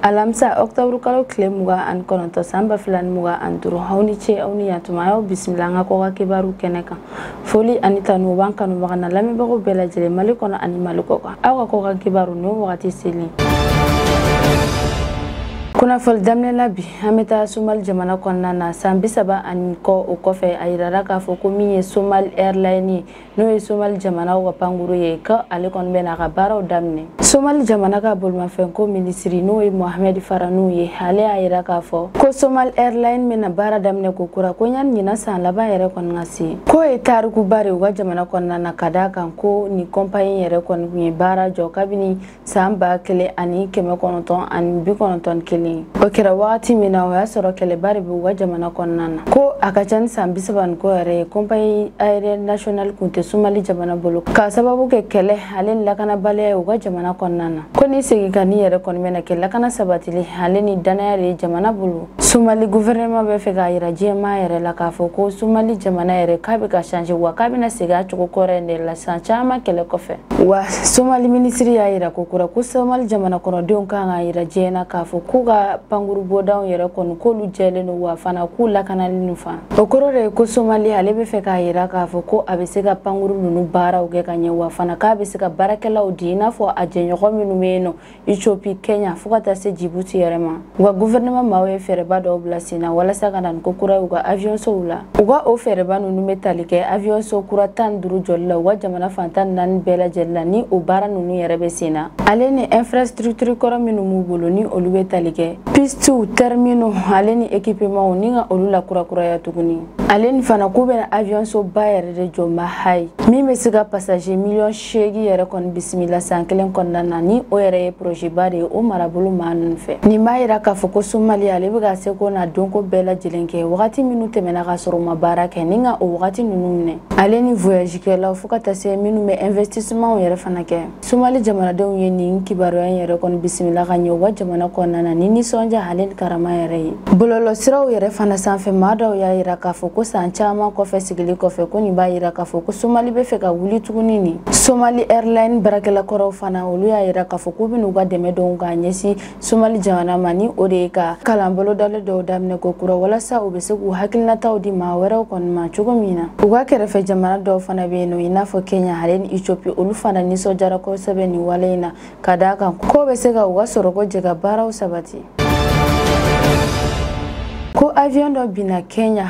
alamisa ɔktɔburu kalo tile mugan ani kɔnɔntɔ san ba fila ni mugan ani duuru aw ni ce aw ni yan tuma an y'aw bisimila an ka kɔkan kibaru kɛnɛ kan foli ani tanu b'an kanubaga n'an lamɛnbagaw bɛɛ lajɛlen mali kɔnɔ ani mali kɔkan aw ka kɔkan kibaru n'o wagati selen kunnafoli daminɛ la bi an bɛ taa somali jamana kɔnɔna na san bisaba ani kɔ o kɔfɛ a yirara k'a fɔ ko min ye somali airline ye n'o ye somali jamanaw ka pankuru ye ka ale kɔni bɛna a ka baaraw daminɛ somali jamana ka bolimafɛnko minisiri n'o ye mohamed farah nuh ye ale y'a yira k'a fɔ ko somali airline bɛna baara daminɛ kokura ko yanni ɲinan san laban yɛrɛ kɔni ka se k'o ye tarikuba de u ka jamana kɔnɔna na ka d'a kan ko nin kɔnpaɲi yɛrɛ kɔni tun ye baara jɔ kabini saan ba kelen ani kɛmɛ kɔnɔntɔn ani bi kɔnɔntɔn kelen o kɛra wagati min na o y'a sɔrɔ kɛlɛba de b'u ka jamana kɔnɔna na ko a ka ca ni saan bisaba ni kɔ yɛrɛ ye compagnie aérienne nationale kun tɛ sumali jamana bolo k'a sababu kɛ kɛlɛ ale ni lakanabaliya ye u ka jamana kɔnɔna na ko nin seginkanni yɛrɛ kɔni bɛna kɛ lakana sabatili ale ni dannaya de ye jamana bolo somali guvɛrɛnɛma bɛ fɛ k'a yira diɲɛmaa yɛrɛ la k'a fɔ ko somali jamana yɛrɛ k'a bɛ ka changer wa k'a bɛna segin a cogo kɔrɔ in de la san caman kɛlɛ kɔfɛ wa somali minisiri y'a yira kokura ko somali jamana kɔnɔdenw kan k'a yira diɲɛ na k'a fɔ k'u ka pankuru bɔdaw yɛrɛ kɔni k'olu jɛlen don wa fana k'u lakanalen don fana o kɔrɔ de ye ko somali ale bɛ fɛ k'a yira k'a fɔ ko a bɛ se ka pankuru ninnu baaraw kɛ ka ɲɛ wa fana k'a bɛ se ka baarakɛlaw di i n'a fɔ a jɛɲɔgɔn minnu bɛ yen nɔ Ethiopie, Kenya fo ka taa se Djibouti yɛrɛ ma u ka gouvernement maaw ye fɛɛrɛba dɔw bila sen na walasa ka na ni ko kura ye u ka aviyɔnsow la u ka o fɛɛrɛba ninnu bɛ tali kɛ aviyɔnso kura tan ni duuru jɔli la u ka jamana fan tan ni naani bɛɛ lajɛlen la ni o baara ninnu yɛrɛ bɛ sen na ale ni infrastructure kɔrɔ minnu b'u bolo ni olu bɛ tali kɛ pistiw terminaux ale ni ekipemanw ni ka olu lakurakuraya tuguni ale ni fana k'u bɛna aviyɔnsoba yɛrɛ de jɔ Mahaay min bɛ se ka pasaje miliyɔn seegin yɛrɛ kɔni bisimila san kelen kɔnɔna na ni o yɛrɛ ye porozeba de ye o marabolo maa ninnu fɛ nin b'a yira k'a fɔ ko somali ale bɛ ka seko n'a donko bɛɛ lajɛlen kɛ wagati minnu tɛmɛna k'a sɔrɔ u ma baara kɛ ni ka o wagati ninnu minɛ ale ni voyagekɛlaw fɔɔ ka taa se minnu bɛ investisimanw yɛrɛ fana kɛ somali jamanadenw ye nin kibaruya in yɛrɛ kɔni bisimila ka ɲɛ u ka jamana kɔnɔna na ni nisɔndiya ale ni karama yɛrɛ ye bɔlɔlɔsiraw yɛrɛ fana sanfɛ maa dɔw y'a yira k'a fɔ ko saan caaman kɔfɛ sigili kɔfɛ ko nin b'a yira k'a fɔ ko somali bɛ fɛ ka wuli tuguni nin somali airline baarakɛla kɔrɔw fana olu y'a yira k'a fɔ k'u bɛn'u ka dɛmɛ don k'a ɲɛsin somali jamana ma ni o de ye ka kalan bolodalen dɔw daminɛ kokura walasa u bɛ se k'u hakilinataw di maa wɛrɛw kɔni ma cogo min na u ka kɛrɛfɛ jamana dɔw fana bɛ yen nɔ i n'a fɔ kenya ale ni ethiopie olu fana nisɔndiyara kosɛbɛ nin wale in na ka d'a kan k'o bɛ se ka u ka sɔrɔko jɛkabaaraw sabati ko avion dɔ binna kenya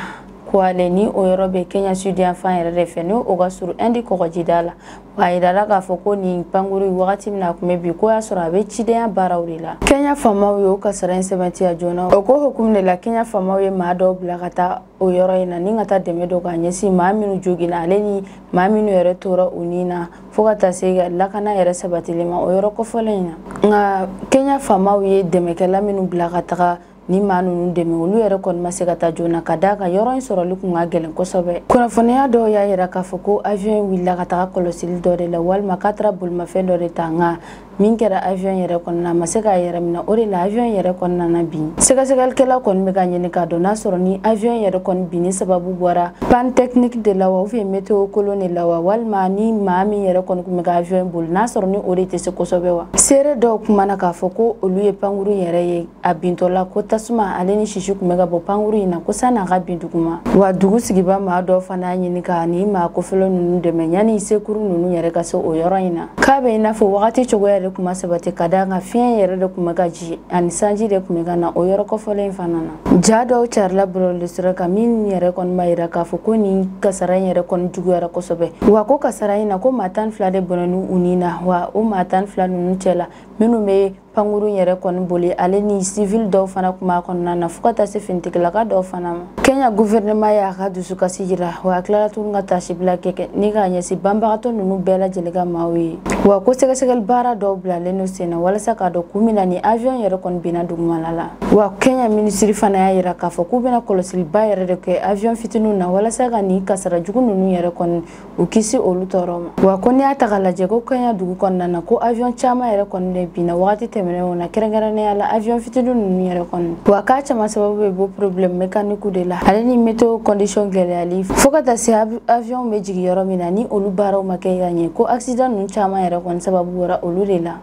Kuwale ni o yɔrɔ bɛ Kenya sudiyanfan yɛrɛ de fɛ n'o o ka surun Inde kɔgɔjida la wa a jirala k'a fɔ ko nin pankuru in wagati min na a tun bɛ bin k'o y'a sɔrɔ a bɛ cidenya baaraw de la Kenya faamaw ye o kasara in sɛbɛntiya joona o ko hukumu de la Kenya faamaw ye maa dɔw bila ka taa o yɔrɔ in na ni ka taa dɛmɛ don k'a ɲɛsin maa minnu joginna ale ni maa minnu yɛrɛ tora u ni na fo ka taa se ka lakana yɛrɛ sabatili ma o yɔrɔ kofɔlen in na nka Kenya faamaw ye dɛmɛkɛla minnu bila ka taga nin maa ninnu dɛmɛ olu yɛrɛ kɔni ma se ka taa joona ka da a kan yɔrɔ in sɔrɔli kun ka gɛlɛn kosɛbɛ kunnafoniya dɔw y'a yira k'a fɔ ko aviɔn wulila ka taga kɔlɔsili dɔ de la walima k'a tara bolimafɛn dɔ de ta nka min kɛra aviɔn yɛrɛ kɔnɔna a ma se k'a yɛrɛ minɛ o de la aviɔn yɛrɛ kɔni nana bin sɛgɛsɛgɛlikɛla kɔni bɛ k'a ɲini k'a dɔn n'a sɔrɔ ni aviɔn yɛrɛ kɔni binni sababu bɔra pan tɛkiniki de la wa ubiyɛn meteo kolon de la wa walima ni maa min yɛrɛ kɔni tun bɛ ka aviɔn boli n'a sɔrɔ ni o de tɛ se kosɛbɛ wa seere dɔw kumana k'a fɔ ko olu ye pankuru yɛrɛ ye a bintɔla ko tasuma ale ni sisi kun bɛ ka bɔ pankuru in na ko san'a ka bin duguma wa dugu sigibaa maa dɔ fana y'a ɲini ka nin maa kofɔlen ninnu dɛmɛ yanni sekuru ninnu yɛrɛ ka se o yɔrɔ in na k'a bɛ i n'a fɔ wagati cogoya de tun ma sabati ka da a kan fiɲɛ yɛrɛ de tun bɛ ka ci ani sanji de tun bɛ ka na o yɔrɔ kofɔlen in fana na ja dɔw carila bɔlɔlɔ sira kan min yɛrɛ kɔni b'a yira k'a fɔ ko nin kasara in yɛrɛ kɔni juguyara kosɛbɛ wa ko kasara in na ko maa tan fila de bɔnɛna u ni na wa o maa tan fila ninnu cɛ la minnu bɛ pankuru yɛrɛ kɔni boli ale ni sivili dɔw fana tun b'a kɔnɔna na fo ka taa se finitigilaka dɔw fana ma kenya guvɛrɛnɛma y'a ka dusukasi jira wa a tilala tuguni ka tasibila kɛkɛ ni k'a ɲɛsin banbagatɔ ninnu bɛɛ lajɛlen ka maaw ye wa ko sɛgɛsɛgɛli baara dɔw bilalen don sen na walasa k'a dɔn kun min na nin aviɔn yɛrɛ kɔni binna dugumala la wa kenya minisiri fana y'a yira k'a fɔ k'u bɛna kɔlɔsiliba yɛrɛ de kɛ aviɔn fitiniw na walasa ka nin kasara jugu ninnu yɛrɛ kɔni u kisi olu tɔɔrɔ ma wa ko n'i y'a ta ka lajɛ ko kenya dugu kɔnɔna na ko avion caman yɛrɛ kɔni de binna wagati tɛmɛnenw na kɛrɛnkɛrɛnnenya la avion fitini ninnu yɛrɛ kɔni wa k'a caman sababu bɛ bɔ problème mécanique de la ale ni météo condition gɛlɛyali fo ka taa se avion bɛ jigin yɔrɔ min na ni olu baaraw ma kɛ ka ɲɛ ko accident ninnu caman yɛrɛ kɔni sababu bɔra olu de la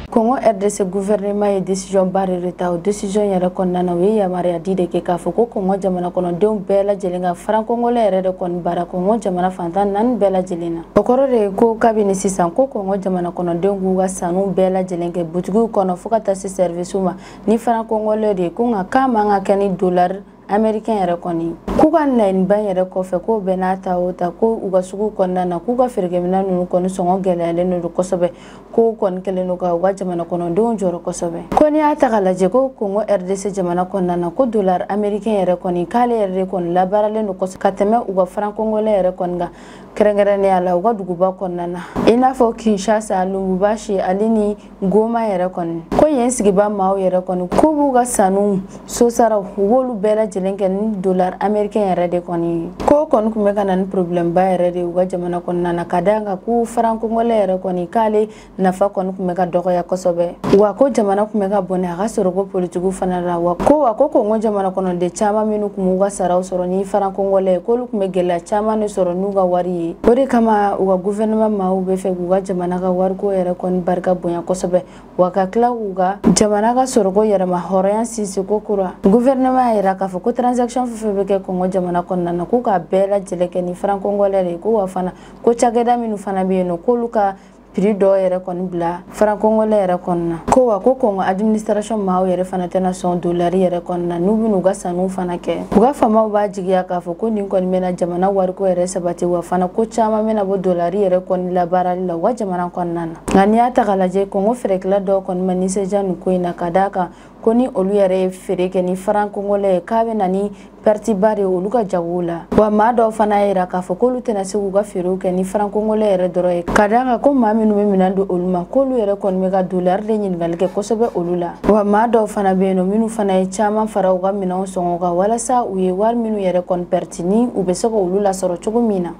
kɔngɔ rdc guvɛrɛnema ye desizɔn ba yɛrɛ de ta o desizɔn yɛrɛ kɔnɔna na u ye yamaruya di de kɛ k'a fɔ ko kɔngɔ jamana kɔnɔdenw bɛɛ lajɛlen ka faran kɔngɔlɛ yɛrɛ de kɔni baara kɔngɔ jamana fan tan naani bɛɛ lajɛlen na o kɔrɔ de ye ko kabini sisan ko kɔngɔ jamana kɔnɔdenw k'u ka sanniw bɛɛ lajɛlen kɛ butigiw kɔnɔ fo ka taa se sɛrivisiw ma ni faran kɔngɔlɛ de ye ko nka k'a man ka kɛ ni dolari amerikɛn yɛrɛ kɔni k'u ka laɲiniba in yɛrɛ kɔfɛ k'o bɛɛ n'a ta o ta ko u ka sugu kɔnɔna na k'u ka feerekɛminɛn ninnu kɔni sɔngɔ gɛlɛyalen don kosɛbɛ k'o kɔni kɛlen don ka u ka jamana kɔnɔdenw jɔrɔ kosɛbɛ ko n'i y'a ta ka lajɛ ko kongo rdc jamana kɔnɔna na ko dolari amerikɛn yɛrɛ kɔni k'ale yɛrɛ de kɔni labaaralen don kosɛbɛ ka tɛmɛ u ka faran kɔngɔlɛ yɛrɛ kɔni kan kɛrɛnkɛrɛnnenya la u ka duguba kɔnɔna na i n'a fɔ kinshasa lubumbashi ale ni goma yɛrɛ kɔni ko yen sigiba maaw yɛrɛ kɔni k'u b'u ka sanniw sosaraw u b'olu bɛɛ lajɛlen kɛ ni dolar amerikɛn yɛrɛ de kɔni ko kɔni tun bɛ ka na ni porobilɛmba yɛrɛ de u ka jamana kɔnɔna na ka d'a kan ko farankongɔlɛ yɛrɛ kɔni k'ale nafa kɔni tun bɛ ka dɔgɔya kosɛbɛ wa ko jamana tun bɛ ka bɔnɛ a ka sɔrɔko politigiw fana la wa ko wa ko kongo jamana kɔnɔden caman minnu tun b'u ka saraw sɔrɔ ni farankongɔlɛ ye k'olu tun bɛ gɛlɛya caman de sɔrɔ n'u ka wari ye o de kama u ka guvɛrɛnɛman maaw b'a fɛ k'u ka jamana jamana ka wariko yɛrɛ kɔni barika bonya kosɛbɛ wa ka tila k'u ka jamana ka sɔrɔko yɛrɛma hɔrɔnya sinsin kokura guvɛrɛnɛman y'a yira k'a fɔ ko transaction fɛn fɛn bɛ kɛ kongo jamana kɔnɔna na k'u k'a bɛɛ lajɛlen kɛ ni farankɔngɔlɛ de ye ko wa fana ko cakɛda minnu fana bɛ yen nɔ k'olu ka piri dɔw yɛrɛ kɔni bila farankɔngɔlɛ yɛrɛ kɔnɔna ko wa ko kongo administration maaw yɛrɛ fana tɛna sɔn dolari yɛrɛ kɔnɔna n'u bɛn'u ka sanniw fana kɛ u ka faamaw b'a Jigiya k'a fɔ ko nin kɔni bɛna jamana wariko yɛrɛ sabati wa fana ko caman bɛna bɔ dolari yɛrɛ kɔni labaarali la u ka jamana kɔnɔna na nka n'i y'a ta k'a lajɛ kongo feerekɛla dɔw kɔni ma nisɔndiya nin ko in na ka d'a kan ko ni olu yɛrɛ ye feere kɛ ni faran kongolɛ ye k'a bɛ na ni pɛritiba de ye olu ka jagow la wa maa dɔw fana y'a jira k'a fɔ k'olu tɛna se k'u ka feerew kɛ ni faran kongolɛ yɛrɛ dɔrɔn ye ka d'a kan ko maa minnu bɛ minɛn don olu ma k'olu yɛrɛ kɔni bɛ ka dolari de ɲininkali kɛ kosɛbɛ olu la wa maa dɔw fana bɛ yen nɔ minnu fana ye caman fara u ka minɛnw sɔngɔ kan walasa u ye wari minnu yɛrɛ kɔni pɛrɛti ni u bɛ se ka olu lasɔrɔ cogo min na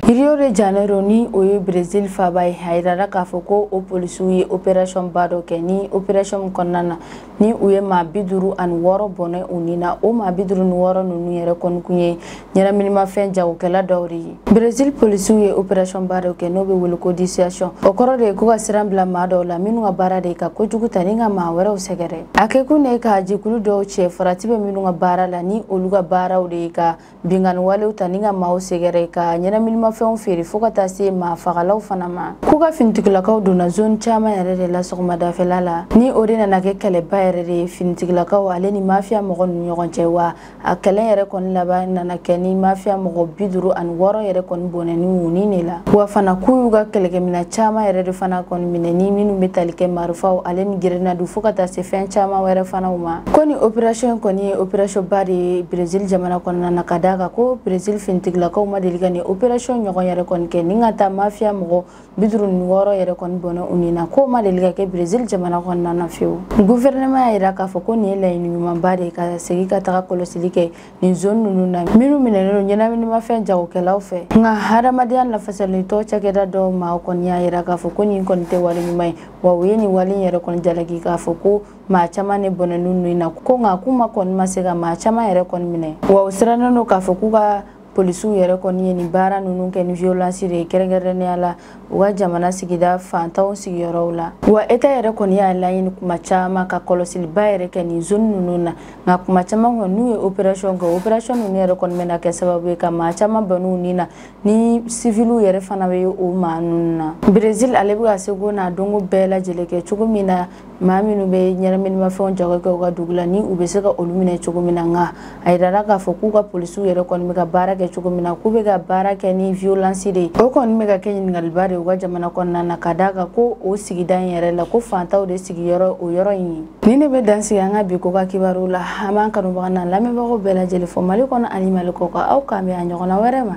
Rio de Janeiro ni o ye Brésil faaba ye a jirara k'a fɔ ko o polisiw ye opération ba dɔ kɛ ni opération min kɔnɔna na ni u ye maa bi duuru ani wɔɔrɔ bɔnɛ u ni na o maa bi duuru ni wɔɔrɔ ninnu yɛrɛ kɔni kun ye ɲɛnaminimafɛn jagokɛla dɔw de ye berezil polisiw ye operasiyɔn ba dɔ kɛ n'o bɛ wele ko dissuasion o kɔrɔ de ye ko ka siran bila maa dɔw la minnu ka baara de ye ka kojugu ta ni ka maa wɛrɛw sɛgɛrɛ a kɛkun de ye ka jɛkulu dɔw cɛ farati bɛ minnu ka baara la ni olu ka baaraw de ye ka Binkanni walew ta ni ka maaw sɛgɛrɛ ka ɲɛnaminimafɛnw feere fo ka taa se maa fagalaw fana ma k'u ka finitigilakaw donna zone caman yɛrɛ de la sɔgɔmadafɛla la ni o de nana kɛ kɛlɛba yɛrɛ de ye finitigilakaw ale ni mafiya mɔgɔ ni ɲɔgɔn cɛ wa a kɛlɛ yɛrɛ kɔni laban nana kɛ ni mafiya mɔgɔ bi duuru ani wɔɔrɔ yɛrɛ kɔni bɔnɛni u ni de la wa fana k'u y'u ka kɛlɛkɛmina caman yɛrɛ de fana kɔni minɛ ni minnu bɛ tali kɛ marifaw ale ni gerenadu fo ka taa se fɛn caman wɛrɛ fanaw ma ko nin operasiyɔn kɔni ye operasiyɔnba de ye berezil jamana kɔnɔna na ka d'a kan ko berezil finitigilakaw ma deli ka nin operasiyɔn ɲɔgɔn yɛrɛ kɔni kɛ ni ka taa mafiya mɔgɔ bi duuru ni wɔɔrɔ yɛrɛ kɔni bɔnɛ u ni na k'o ma deli ka kɛ berezil jamana kɔnɔna na fewu guvɛrɛnɛman y'a jira k'a fɔ ko nin ye laɲini ɲumanba de ye ka segin ka taga kɔlɔsili kɛ nin zone ninnu na minnu minɛlen don ɲɛnaminimafɛn jagokɛlaw fɛ nka hadamadenya lafasalitɔn cakɛda dɔw maa kɔni y'a jira k'a fɔ ko nin kɔni tɛ wale ɲuman ye wa u ye nin wale yɛrɛ kɔni jalaki k'a fɔ ko maa caman de bɔnɛna u ni na ko nka k'u ma kɔni ma se ka maa caman yɛrɛ kɔni minɛ wa u sirannen don k'a fɔ k'u ka polisiw yɛrɛ kɔni ye nin baara ninnu kɛ ni violence de ye kɛrɛnkɛrɛnnenya la u ka jamana sigida fantanw sigiyɔrɔw la wa eta yɛrɛ kɔni y'a laɲini kuma caman ka kɔlɔsiliba yɛrɛ kɛ nin zone ninnu na nka kuma caman kɔni n'u ye operation kɛ operation ninnu yɛrɛ kɔni bɛna kɛ sababu ye ka maa caman bɔnɛ u ni na ni siviliw yɛrɛ fana bɛ o maa ninnu na brezil ale bɛ ka seko n'a donko bɛɛ lajɛlen kɛ cogo min na maa minnu bɛ ɲɛnaminimafɛnw jago kɛ u ka dugu la ni u bɛ se ka olu minɛ cogo min na nka a yirala k'a fɔ k'u ka polisiw yɛrɛ kɔni bɛ ka baara kɛ cogo min na k'u bɛ ka baara kɛ ni violence de ye o kɔni bɛ ka kɛ ɲininkaliba de ye u ka jamana kɔnɔna na ka d'a kan ko o sigida in yɛrɛ la ko fantanw de sigiyɔrɔ o yɔrɔ in ye nin de bɛ dan sigi an ka bi kɔkan kibaru la an b'an kanubaga n'an lamɛnbagaw bɛɛ lajɛlen fo mali kɔnɔ ani mali kɔkan aw k'an bɛn a ɲɔgɔnna wɛrɛ ma